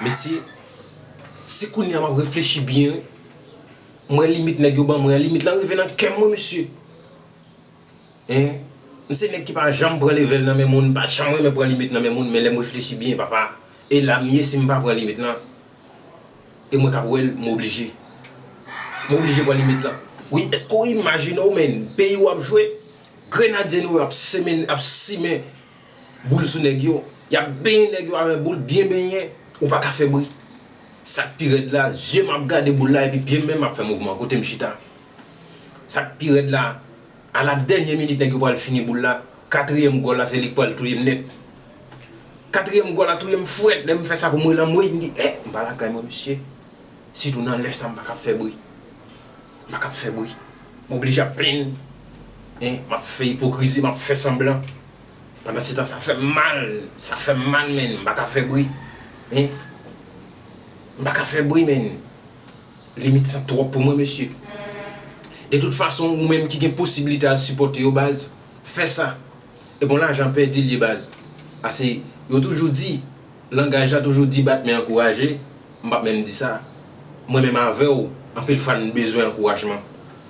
Mesye se kounya map reflechi byen wi m wè limit nèg yo ban mwen an limit lan rive nan kèm wi mesye hein m se nèg ki pa janm pran level nan men moun m pa janm renmen pran limit nan men moun men lèm reflechi byen papa e la m ye si m pa pran limit lan e mwen kap wèl m oblije m oblije pran limit lan wi eske w imajine w menn peyi w ap jwe grenadye nou yo ap simen Boul sou nèg yo, yap benyen nèg yo avè boul byen benyen, ou paka fè bri. Sak pi rèd la, zye m ap gade boul la epi pyem menm ap fè mouvman kote m chita. Sak pi rèd la, a la dènye minit nèg yo pral fini boul la, katriyèm gòl la se li k pral touyem nèt. Katriyèm gòl la touyem frèt, lè m fè sa pou m wè l anmweyy m di eh m pa lakay mwen mesye. Sitou nan lè sa m pa kab fè bri. M pa kab fè bri. M oblije ap plenn, eh m ap fè ipokrizi, m ap fè sanblan. Pandansetan sa fè m mal, sa fè m mal menn m pa ka fè bri hein m pa ka fè bri menn limit sa twòp pou mwen mesye de tout fason ou menm ki gen posibilite al sipòte yo baz fè sa ebon lajan pèdi l ye baz pase yo toujou di. Langaj la toujou di bat men ankouraje, m pap menm di sa. Mwen menm avè w, anpil fwa n bezwen ankourajman.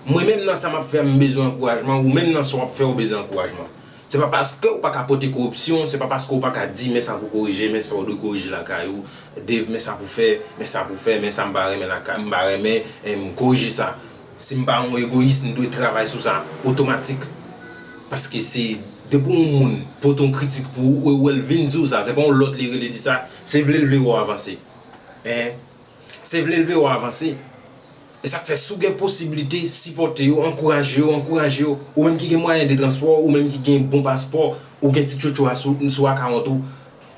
Mwen menm nan sa m ap fè a m bezwen ankourajman, ou menm nan sa w ap fè ou bezwen ankourajman. Se pa paske ou pa ka pote koripsyon, se pa paske ou pa ka di men sa pou korije, men sa ou dwe korije lakay ou, Dave men sa pou fè, men sa pou fè, men sa m pa renmen lakay, m pa renmen, m korije sa. Si m pa yon egoyis, m dwe travay sou sa otomatik. Paske se depi yon moun pote yon kritik pou ou, ou wè l vin di w sa, se pa yon lòt li rele di sa, se vle l vle wè w avanse. Enh. Se vle l vle wè w avanse. E sa k fè si w gen posiblite, sipòte yo, ankouraje yo, ankouraje yo. Ou menm ki gen mwayen de transpò, ou menm ki gen bon paspò, ou gen ti tchotcho a sou akawont ou,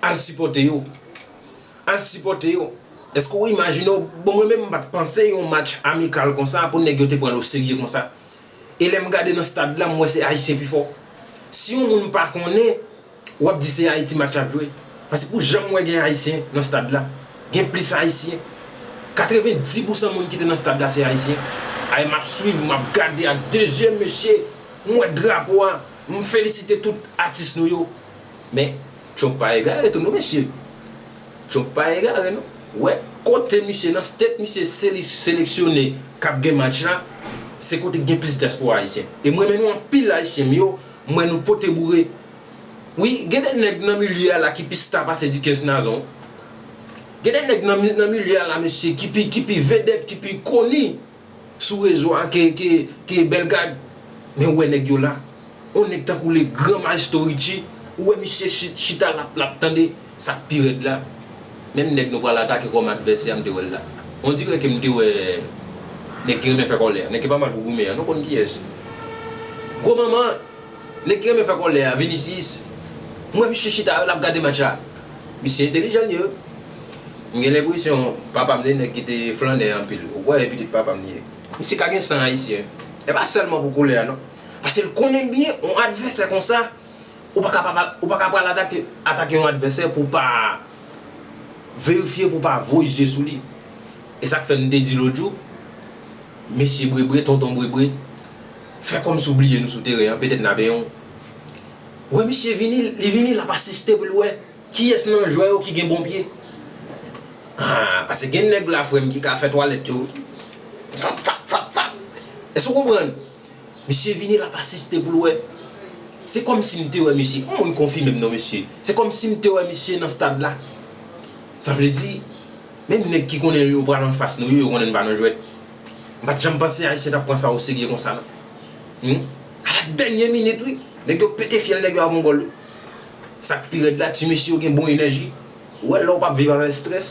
al sipòte yo. Al sipòte yo. Eske ou imajine w, bon mwen menm m pat panse yon match amikal konsa pou nèg yo te pran l oserye konsa. E lè m gade nan stad la m wè se Ayisyen pi fò. Si yon moun pa konnen, w ap di se Ayiti match la ap jwe. Pase pou jan m wè gen Ayisyen nan stad la, gen plis Ayisyen. 90 pousan moun ki te nan stad la se Ayisyen. Ay m ap swiv, m ap gade ak de zye mesye, m wè drapo a, m felisite tout atis nou yo. Men Trump pa egare tou non mesye Trump pa egare non wè kote misye nan state misye seli seleksyone kap gen match la se kote ki gen plis diaspora ayisyen e m renmen nou anpil ayisyen m yo m wè nou pote boure wi gen de nèg nan milye a la ki pi sta pase Dickens Nazon gen de nèg nan milye a la mesye ki pi ki pi vedèt ki pi koni. Sou rezo a ke ke ke belgad men ou wè nèg yo la on nèg tankou le gran maestro Richie ou wè misye chit chita lap lap tande sak pi rèd la menm nèg nou pral atake kòm advèsè a m te wèl la on dirè ke m te wè nèg ki renmen fè kòlè a nèg ki pa mal pou goumen an nou konn kiyès gwo manman nèg ki renmen fè kòlè a Vinicius m wè misye chita lap gade match la. Misye entelijan ye wi. M gen lenpresyon papa m se nèg ki te flannè anpil. Ou kwè e pitit papa m li ye. Misye ka gen san ayisyen. E pa sèlman pou koulè a non. Pase l konnen byen yon advèsè konsa, ou pa ka pa ou pa ka pral atake atake yon advèsè pou w pa verifye, pou w pa voye je sou li. E sa k fè m te di lòt jou, mesye Brebre, tonton Brebre, fè kòmsi w bliye nou sou teren an, petèt n a benyen w. Wè misye vini li vini lap asiste pou l wè kiyès nan jwè yo ki gen bon pye haa pase gen nèg la frè m ki ka fè twalèt yo fap fap fap fap èske ou konprann misye vini lap asiste pou l wè se kòmsi m te wè misye yon moun konfime m non mesye se kòmsi m te wè misye nan stad la sa vle di menm nèg ki konnen yo pral anfas nou yo yo konnen n pa nan jwèt m pat janm panse ayisyen tap pran sa oserye konsa non humm a la dènye minit wi. Nèg yo pete fyèl nèg yo a mongòl wi. Sak pi rèd la ti mesye yo gen bon enèji, ou wè lè ou pap viv avèk strès,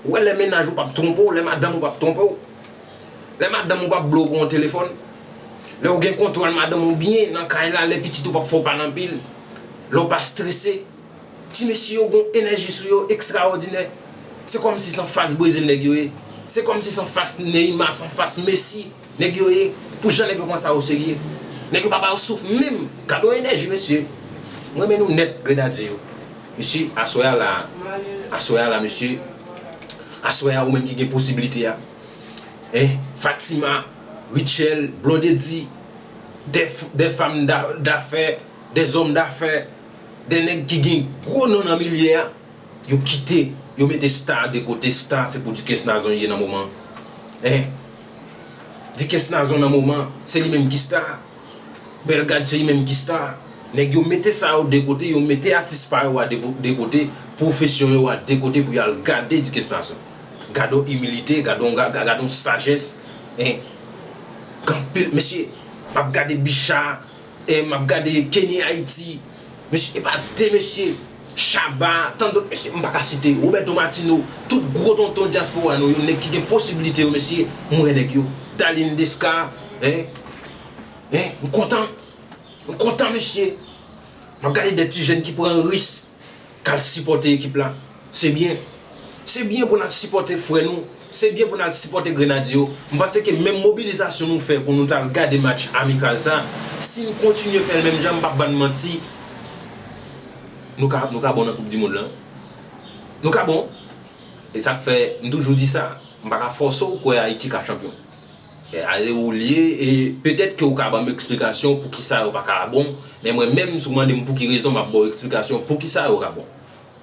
ou wè lè mennaj ou pap twonpe w, lè madanm ou pap twonpe w, lè madanm ou pap ble w pou yon telefòn, lè ou gen kontwòl madanm ou byen nan kay la, lè pitit ou pap fè w pale anpil, lè ou pa strese. Ti mesye yo gon enèji sou yo ekstraòdinè. Se kòmsi san fas Brezil nèg yo ye. Se kòmsi san fas Neymar, san fas Messi. Nèg yo ye, pou jan nèg yo pran sa oserye. Nèg yo pa ba yo souf menm. Gadon enèji mesye. M renmen nou nèt grenadye yo. Mesye aswè a la, aswè a la mesye, aswè a ou menm ki gen posibilite a, eh, Fatima, Rutshelle, Blondedy, de, de fam da, dafè, de zòm dafè, de nèg ki gen gwo non nan milye a, yo kite, yo mete star de kote, star se pou Ducas Nazon ye nan moman an, eh. Di kes nazon nan moman se li menm ki sta Bel gad se li menm ki sta Neg yo mete sa yo de kote yo mete atis pa yo a de kote pwofesyon yo a de kote pou yo al gade di kes nazon Gadon imilite gadon sajes Gen anpil mesye map gade bicha E map gade Kenny Haiti mesye epa de mesye Shabba tant dot mesye m paka site Roberto Martino tout gro tonton diaspora nou yo nèg ki gen posibilite yo mesye m wè nèg yo Darline Desca hein hein m kontan m kontan mesye map gade de ti jèn ki pran risk kal sipòte ekip la se byen se byen pou nal sipòte frè nou se byen pou nal sipòte grenadye yo m panse ke menm mobilizasyon nou fè pou nou tal gade match amikal sa sin kontinye fèl menm jan m pap bann manti nou ka nou ka bon nan koup dimond lan nou ka bon esak fè m toujou di sa m paka fòse w kwè ayiti ka chanpyon. Ale ou liye e petèt ke ou ka banm eksplikasyon poukisa yo pa ka bon, men mwen menm si ou mandem pouki rezon map baw eksplikasyon poukisa yo ka bon.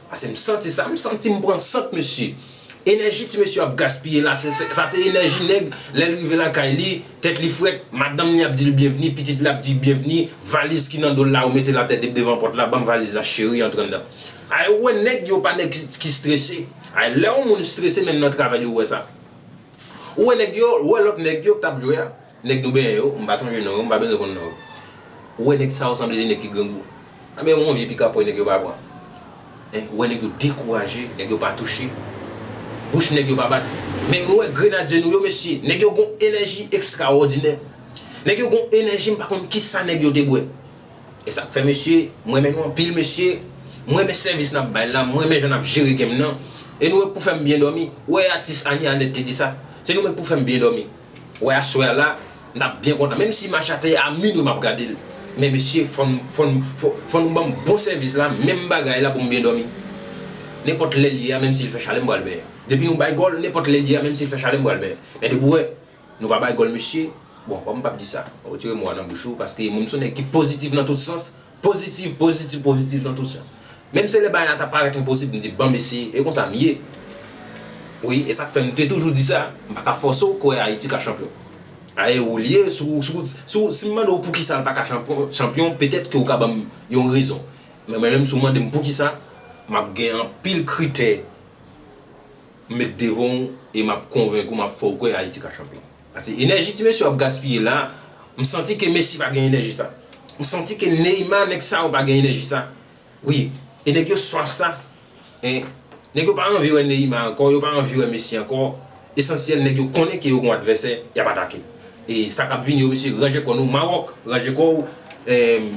Pase m santi sa, m santi m pran sant mesye. Enèji ti mesye ap gaspiye la se sa se enèji nèg lèl rive lakay li, tèt li frèt, madanm li ap dil byenvni, pitit la ap dil byenvni, valiz ki nan dol la ou metel atè dep devan pòt la, banm valiz la cheri antre anndan. Ay ou wè nèg yo pa nèg ki strese, ay lè yon moun strese menm nan travay li ou wè sa. Ou wè nèg yo, ou wè lòt nèg yo k tap jwe a, nèg nou benyen yo, m pa sonje non yo, m pa bezwen konn non yo. Ou wè nèg sa yo sanble 2 nèg ki grangou. Anben yon vye pikapòy nèg yo pa pran. Hein, ou wè nèg yo dekouraje, nèg yo pa touche, bouch nèg yo pa bat. Men nou wè grenadye nou yo mesye, nèg yo gon enèji ekstrawòdinè. Nèg yo gon enèji m pa konn kisa nèg yo te bwè. Esak fè mesye, m renmen nou anpil mesye, m renmen sèvis nap bay la, m renmen jan nap jere game nan, e nou menm k pou fèm byen dòmi, ou wè atis Annie Annette te di sa, se nou menm k pou fèm byen dòmi, ou wè aswè a la nap byen kontan, menm si match a te a minwi map gade l, men mesye fòn fòn fòn nou banm bon sèvis la, menm bagay la pou m byen dòmi, nenpòt lè l ye a menm si l fè chalè m pral byen, depi nou bay gòl nenpòt lè l ye a menm si l fè chalè m pral byen, men depi ou wè Nou pa bay gòl mesye, bon kòm pap di sa, retire mo a nan bouch ou paske moun m son nèg ki pozitif nan tout sans, pozitif, pozitif, pozitif nan tout sans. Menm se lè bagay la ta parèt enposib m di banm eseye, e konsa m ye. Wi, e sak fè m te toujou di sa, m pa ka fòse w kwè Ayiti ka chanpyon. Ayè ou li ye, si w, si w, si m mande w poukisa l pa ka chanpyon, petèt ke ou ka banm yon rezon. Men mwen menm si w mande m poukisa, map gen anpil kritè. M met devan w e m ap konvenk ou m ap fè w kwè Ayiti ka chanpyon. Pase enèji ti mesye yo ap gaspiye la, m santi ke Messi pa gen enèji sa. M santi ke Neymar nèg sa yo pa gen enèji sa. Wi, e nèg yo swaf sa. E nèg yo pa anvi wè Neymar ankò, yo pa anvi wè Messi ankò. Esansyèl nèg yo konnen ke yo gon advèsè y ap atake. E sa k ap vini yo mesye ranje kò nou, Maròk ranje kò w,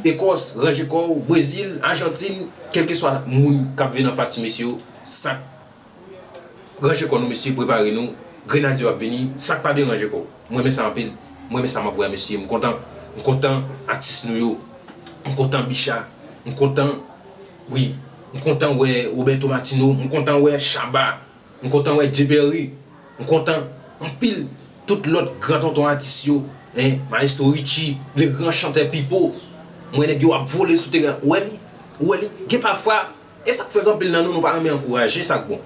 Ekòs ranje kò w, Brezil, Ajantin, kèlkeswa moun k ap vin anfas ti mesye yo, sa k. Ranje kò nou mesye prepare nou grenadye yo ap vini sak pa byen ranje kò w m renmen sa anpil m renmen sa map wè a mesye m kontan m kontan atis nou yo m kontan bicha m kontan wi m kontan wè Roberto Martino m kontan wè Shabba m kontan wè Djeberry m kontan anpil tout lòt gran tonton atis yo hein maestro Richie le gran chantè Pipo m wè nèg yo ap vole sou teren an ou wè li ou wè li gen pafwa E sak fè anpil nan nou nou pa renmen ankouraje sak bon.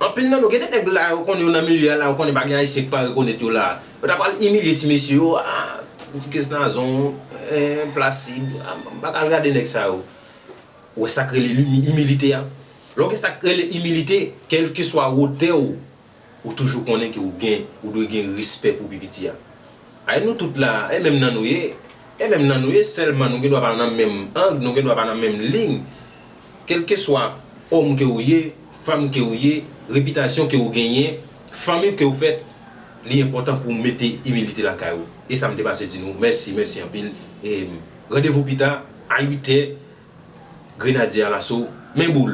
Anpil nan nou gen de nèg la yo konnen yo nan milye a la yo konnen pa gen ayisyen ki pa rekonèt yo la. Yo ta pral imilye ti mesye yo ah ti kess nazon eh plasid m pa ka al gade nèg sa yo. Ou wè sak rele imilite a. Lè w gen sak rele imilite kelkeswa wotè w ou toujou konnen ke ou gen ou dwe gen respè pou pi piti a ay nou tout la e menm nan nou ye e menm nan nou ye sèlman nou gen dwa pa nan menm ang nou gen dwa pa nan menm lign kelkeswa òm ke ou ye fanm ke ou ye repitasyon ke ou genyen fanmi ke ou fèt li enpòtan pou mete imilite lakay ou e sa m te pase di nou mèsi mèsi anpil e randevou pita a 8 è grenadye alaso men boul.